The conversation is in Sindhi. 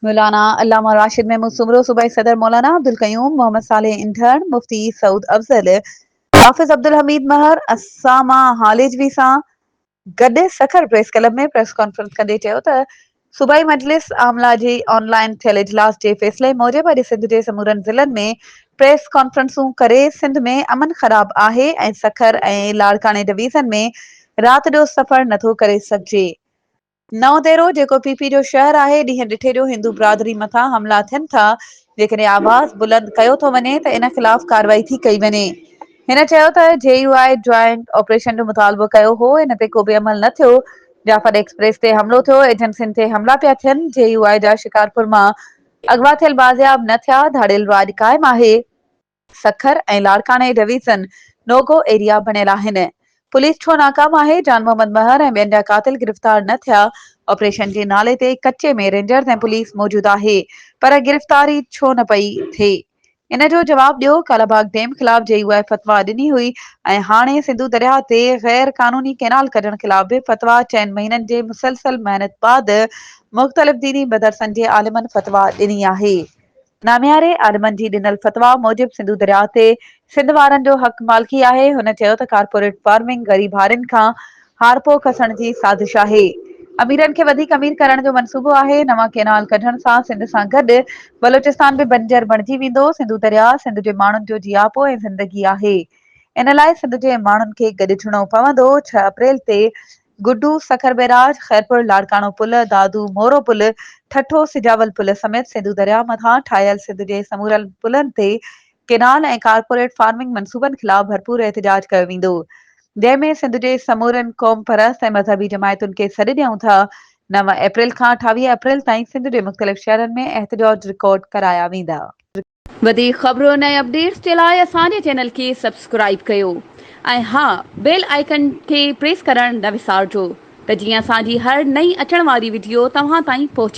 مولانا علامه راشد محمود سومرو، صوبائي صدر مولانا عبدالقيوم محمد صالح انڌڻ، مفتي سعود افضل، حافظ عبدالحميد مهر، اسامه هاليجوي سان گڏ Sukkur press club ۾ press conference ڪندي چيو ته صوبائي مجلس عامله جي آن لائن ٿيل اجلاس جي فيصلي موجب اڄ سنڌ جي سمورن ضلعن ۾ پريس ڪانفرنسون ڪري سنڌ ۾ امن خراب آهي ۽ سکر ۽ لاڙڪاڻي ڊويزن ۾ رات جو سفر نٿو ڪري سگهجي نئون ديرو جيڪو پي پي جو شهر آهي، ڏينهن ڏٺي جو هندو برادري مٿان حملا ٿين ٿا، جيڪڏهن آواز بلند ڪيو ٿو وڃي ته ان خلاف ڪارروائي ٿي ڪئي وڃي. هن چيو ته J U I joint operation جو مطالبو ڪيو هو، ان تي ڪو به عمل نه ٿيو، جعفر ايڪسپريس تي حملو ٿيو، ايجنسين تي حملا پيا ٿين، جي يو آء جا شڪارپور مان اغوا ٿيل بازياب نه ٿيا، ڌاڙيل راڄ قائم آهي. سکر ۽ لاڙڪاڻي ڊويزن نو گو ايريا بڻيل آهن، پوليس ڇو ناڪام آهي، جان محمد مهر ۽ ٻين جا قاتل گرفتار نه ٿيا، آپريشن جي نالي تي ڪچي ۾ رينجرز ۽ پوليس موجود آهي پر گرفتاري ڇو نه پئي ٿئي ان جو جواب ڏيو، ڪالا باغ ڊيم خلاف جي يو آء فتويٰ ڏني هئي ۽ هاڻي سنڌو درياهه تي غير قانوني ڪينال ڪڍڻ خلاف به فتويٰ چئن مهينن جي مسلسل محنت بعد مختلف ديني مدرسن جي عالمن فتويٰ ڏني آهي. نامياري عالمن جي ڏنل فتويٰ موجب سنڌو درياهه تي سنڌ وارن جو حق مالڪي آهي، هن چيو ته ڪارپوريٽ فارمنگ غريب هارين کان هارپو کسڻ جي سازش آهي، اميرن کي وڌيڪ امير ڪرڻ جو منصوبو آهي، نوان ڪينال ڪڍڻ سان سنڌ سان گڏ بلوچستان به بنجر بڻجي ويندو، سنڌو درياهه سنڌ جي ماڻهن جو جياپو ۽ زندگي آهي، ان لاء سنڌ جي ماڻهن کي گڏجڻو پوندو، ڇهه اپريل تي گڊو، سکر بئراج، خيرپور لاڙڪاڻو پل، دادو مورو پل، ٺٽو سجاول پل سميت سنڌو درياء مٿان ٺاهيل سنڌ جي سمورن پلن تي ڪينال ۽ ڪارپوريٽ فارمنگ منصوبن خلاف ڀرپور احتجاج ڪيو ويندو جنهن ۾ سنڌ جي سمورين قومپرست ۽ مذهبي جماعتن کي سڏ ڏيون ٿا نو اپريل کان اٺاويهه اپريل تائين سنڌ جي مختلف شهرن ۾ احتجاج رڪارڊ ڪرايا ويندا. وڌيڪ خبرن ۽ اپڊيٽس جي لاء اسان جي چينل کي سبسڪرائيب ڪيو ۽ ها بيل آئيڪن کي پريس ڪرڻ نه وسارجو ته جيئن اسان جي هر نئين اچڻ واري وڊيو توهان تائين پهچي.